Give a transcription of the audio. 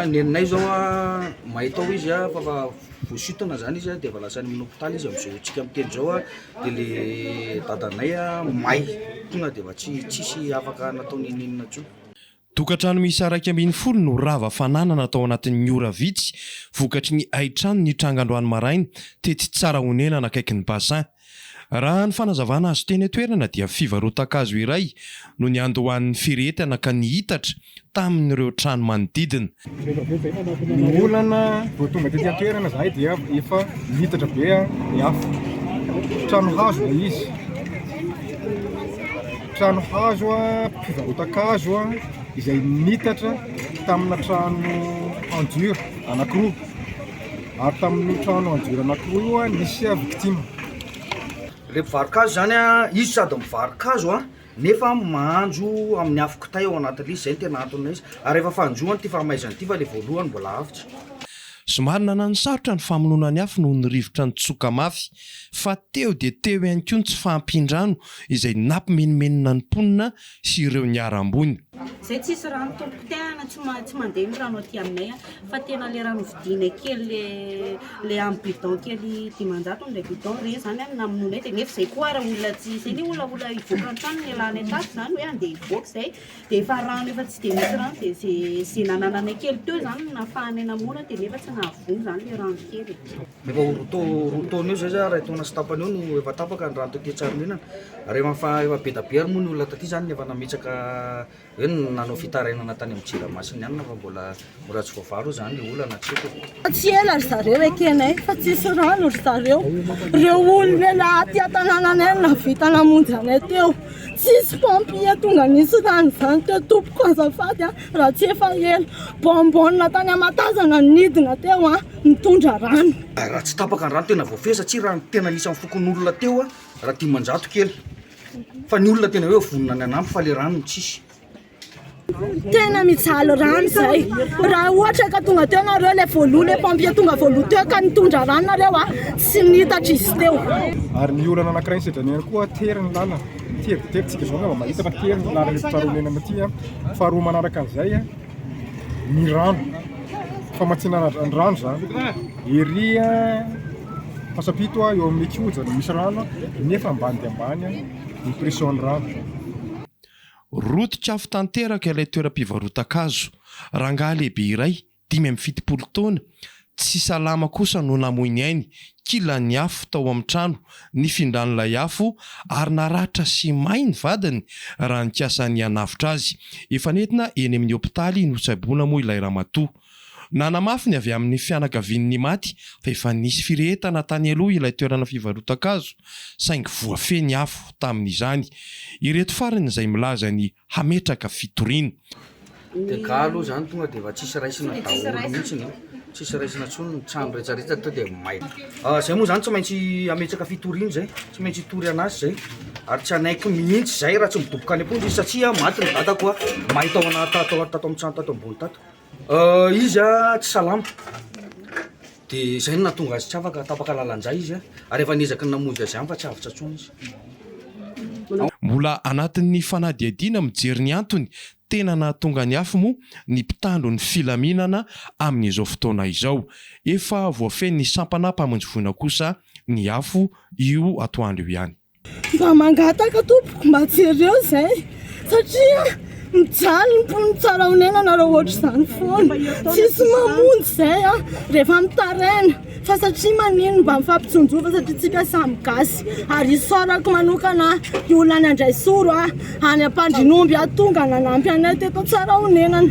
Neninay zao a mahita ao izy a fa fa voasintona zany izy a de efa lasa any amin'ny hopitaly izy am'zao antsika miteny zao a de le dadanay a may tonga de efa tsy tsisy afaka natao n'inon'inona tsony. Tokantrano miisa iraika ambin'ny folo no rava fananana tao anatin'ny ora vitsy vokatry ny haitrano nitranga androany maraina tetsy Tsarahonenana akaiky ny Bassin. Raha ny fanazavana azo teny an-toerana dia fivarotan-kazo iray no niandohan'ny firehetana ka nihitatra tamin'ireo trano manodidina. Ny olana, vao tonga tety an-toerana zahay dia efa nitatra be ny afo. Trano hazo ilay izy, trano hazo mpivarotan-kazo izay nitatra tamina trano en dur anankiroa, ary tamin'io trano en dur anankiroa io nisy victime. Ilay mpivarokazo izany izy sady mivarokazo. Nefa mahanjo amin'ny afo kitay ao anatin'izy, izay no tena anton'izy. Ary rehefa fanjoany ity fahamaizana ity fa ilay voalohany mbola avotra. Somary nananosarotra ny famonoana ny afo noho ny rivotra nitsoka mafy, fa teo dia teo ihany koa ny tsy fahampian-drano izay nampimenomenona ny mponina sy ireo niharam-boina. Izay tsisy rano tompokitay ana tsy mandeha ny rano aty aminay a. Fa tena le rano vidianay kely le le am bidon kely dimanjato le bidon re zany an namonoanay de nefa zay koa ara olona tsy zay ny olona olona hivoaka antrano ny alanay tato zany hoe andeha hivoaka zay de efa rano efa tsy de misy rano de ze ze nanananay kely teo zany no nafahanay namono de nefa tsy nahavoa zany le rano kely e efa ho roa tao roa taona eo zay za ray taona sy tapany eo no efa tapaka ny rano taty Tsaraninana rehefa efa be da be ary moa ny olona taty zany efa nametraka Hoe nanao fitarainana tany amin'ny Jirama sy ny anona fa mbola mbola tsy voavaly hoy izany ilay olana, tsy haiko e. Fa tsy ela ry zareo ekenay fa tsisy rano ry zareo. Ireo olona laha aty an-tanànanay no nahavita namonjy anay teo. Tsisy pompier tonga nisy rano izany teo tompoko azafady a, raha tsy efa ela. Bonbonne tany Amatazana no nidina teo an, nitondra rano. Raha tsy tapaka ny rano tena voafehy satsia raha ny tena anisan'ny fokonolona teo raha dimanjato kely. Fa ny olona tena hoe vonona ny hanampy fa le rano no tsisy. Tena mijaly rano zay. Raha ohatra ka tonga teo nareo le voaloha le pompier tonga voaloha teo ka nitondra rano nareo a, tsy nitatra izy teo. Ary ny olana anankiray ny sedanier ihany koa tery ny lalana. Tery dia tery, tsika izao angamba mahita fa tery ny lalana eto Tsaraolelana ity. Faharoa manaraka an'izay, ny rano famatsiana rano zany ery Antsapito eo amin'ny kihoja no misy rano nefa ambany dia ambany ny pression ny rano. Roton-kafo tanteraka ilay toeram-pivarotan-kazo. Rangahy lehibe iray, dimy amby fitopolo taona, Tsy salama kosa no namoy ny ainy, kilan'ny afo tao amin'ny trano, nifindran'ilay afo ary naratra sy may ny vadiny raha nikasa ny hanavotra azy. Efa nentina eny amin'ny hopitaly notsaboina moa ilay ramatoa. Nanamafy ny avy amin'ny fianakavian'ny maty fa efa nisy firehetana tany aloha ilay toerana fivarotan-kazo saingy voafehy ny afo tamin'izany. Ireto farany izay milaza ny hametraka fitoriana. Dia galo zany tonga dia efa tsisy raisina daholo mihitsiny e! tsisy raisina intsony ny trano rehetrarehetra to dia may. Ah, zay moa zany tsy maintsy ametraka fitoriana zay, tsy maintsy hitory an'asy zay, ary tsy hanaiky mihitsy zay raha tsy midoboka any am-ponja izy satria maty ny dadako a, may tao anaty tato tato amin'ny trano tato ambony tato, Izy tsy salama, dia izay no nahatonga azy tsy afaka, tapaka lalan-drà izy ary efa niezaky ny namonjy azy ihany fa tsy avotra intsony izy. Mbola anatin'ny fanadihadiana mijery ny antony tena nahatonga ny afo moa ny mpitandro ny filaminana amin'izao fotoana izao. Efa voafehin'ny sampana mpamonjy voina kosa ny afo io atoandro io ihany. Za mangataka tompoko mba jereo izay satria mijaly ny mponina tsara onena nareo ohatr'izany foana tsisy mamonjy izay a rehefa mitaraina fa satria manino mba mifampijonjova satria tsika samy gasy ary isaorako manokana i olona andraisoro a any ampandrinomby aho tonga nanampy anay teto tsara onenana